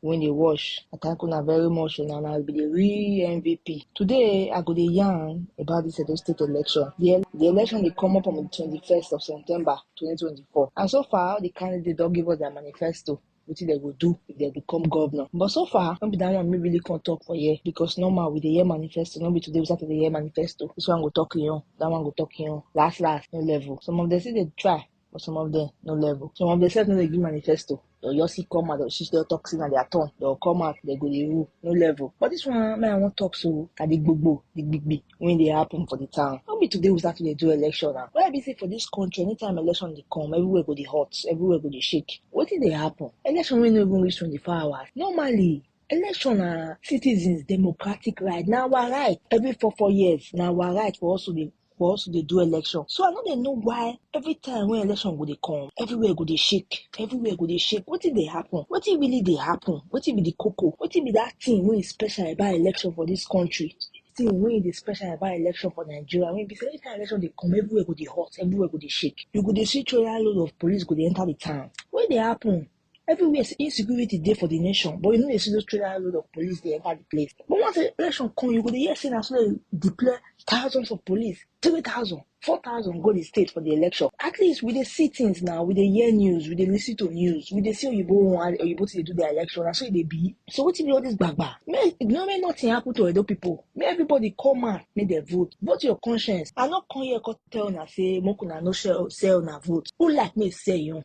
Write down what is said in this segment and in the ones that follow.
when they wash. I thank una very much una na be the real MVP. Today I go dey yarn about this Edo State election. The, the election dey come up on the 21st of September 2024 and so far the candidate don give us their manifesto wetin dem go do if dem become governor but so far no be that one me really come talk for here because normal we dey hear manifesto no be today we start to dey hear manifesto this one go talk im own that one go talk im own last last no level some of them still dey try but some of them no level. Some of them self no dey give manifesto. They'll just see come out, they'll shish their toxin at their tongue. They'll come out, they go the rule, no level. But this one, man, I won't talk so. At the big boo, the big big, when they happen for the town. Not be today we start to dey do election now. Why be say for this country, anytime election they come, everywhere go the hot, everywhere go the shake. What did they happen? Election will not even reach 24 hours. Normally, election na citizens democratic right na our right every four four years na our right for us to dey we also dey do election so i no dey know why every time wey election go dey come everywhere go dey shake everywhere go dey shake wetin dey happen wetin really dey happen wetin be the koko wetin be that thing wey is special about election for this country thing wey dey special about election for nigeria wey be say anytime election dey come everywhere go dey hot everywhere go dey shake you go dey see trailer load of police go dey enter the town wey dey happen everywhere insecurity there for the nation but you know they see those trailer load of police they enter the place but once the election come you go dey hear say na so dem deploy thousands of police three thousand four thousand go the state for the election at least we dey see things now we dey hear news we dey lis ten to news we dey see oyibo one oyibo to dey do their election na so e dey be so wetin be all this gbagba make no make nothing happen to edo people make everybody come out make dem vote vote your conscience i no come here come tell una say make una no sell sell una vote who like make sell your own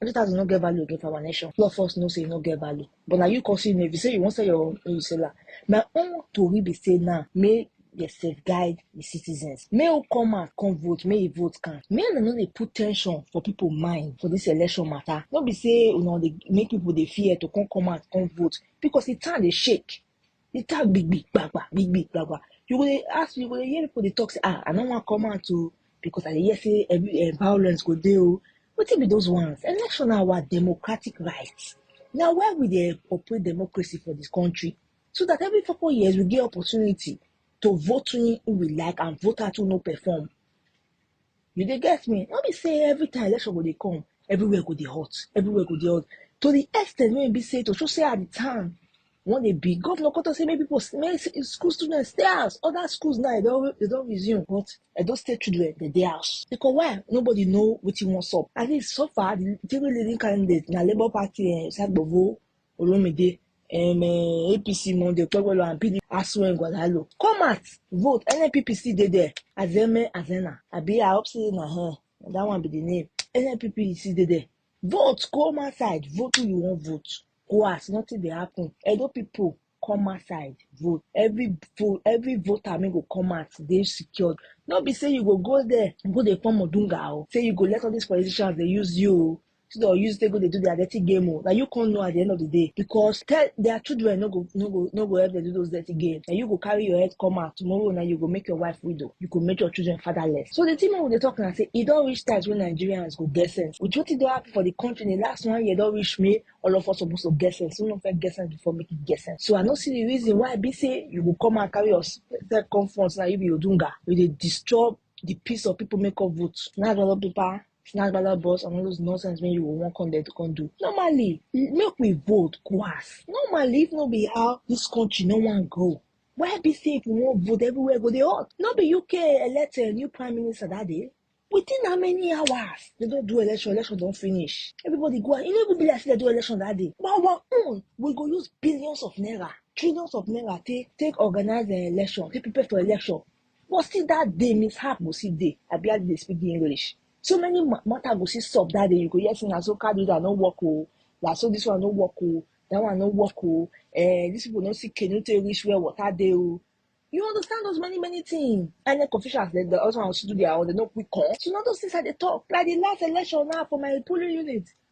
Hundred thousand no get value again for our nation. A lot of us know say e no get value. But na you come see me, if you say you wan sell your own, you sell am. My own tori be say now, make dey safeguard the citizens. Make who come out come vote, make e vote count. Make una no dey put tension for people mind for this election matter. No be say una dey make people dey fear to come come out come vote because the town dey shake. You talk big big gbagba, big big gbagba. You go dey ask, you go dey hear people dey talk say, ah, I no wan come out o because I dey hear say every uh, violence go dey o. Wetin be those ones? Election na our democratic right. Na why we dey operate democracy for this country so that every four four years we get opportunity to vote in who we like and vote out who no perform. You dey get me? No be say every time election go dey come, everywhere go dey hot, everywhere go dey hot. To the extent wey e be say to show say at the time when they be governor come talk say make people s- make s- school students stay house. Other schools now they don't they don't resume, but they don't stay children they dey house because why? Nobody know what he wants up. At least so far the three leading candidates na Labour Party and Sagbovo Olumide, um, uh, APC Monday, Okpebholo and PDP Aso Ngwadalo. Come out, vote. NNPP still dey there. Azeme Azena. Abi I hope say na her. Na that one be the name. NNPP still dey there. Vote. Come outside. Vote who you wan vote. Go ask. Nothing dey happen. Edo people come outside vote. Every vote, every voter make go come out. Dey secured. No be say you go go there, go dey form Odunga o. Say you go let all these politicians dey use you o. so dem use take go dey do their dirty game o na you come know at the end of the day because tell their children no go no go no go help them do those dirty game na you go carry your head come out tomorrow na you go make your wife widow you go make your children fatherless so the thing wey we dey talk na say e don reach times wey nigerians go get sense with wetin don happen for the country in the last one year don reach me all of us suppose to get sense we no fit get sense before make e get sense so i no see the reason why e be say you go come and carry yourself come front na you be odunga you dey disturb the peace of people make up vote na all the people snatch baba boss and all those nonsense wey you go wan come there to come do normally make we vote go ask normally if no be how this country no wan grow why be say if we wan vote everywhere go dey hot no be uk elect a new prime minister that day within how many hours they don do election election don finish everybody go out e no even be like say they do election that day but our own we go use billions of naira trillions of naira take take organize the election take prepare for election But still that day, mishap go see day. I barely dey speak the English. So many matter go see stop that day. You go hear say na so car that no work oh, na so this one no work oh, that one no work oh. Eh, these people no see canoe to reach where water dey oh. You understand those many, many things. And then officials, they, they also want to do their own, they no quick call. So, not those things that they talk. Like the last election now for my polling unit,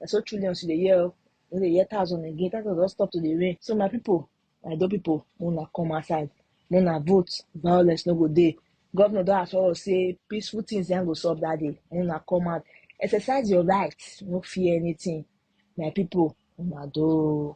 na so trillions you dey hear o you no dey hear thousand again thousand don stop to dey rain so my people my do people make una come outside make una vote violence no go dey governor don assure us say peaceful things yan go solve that day make una come out exercise your right no fear anything my people una do o.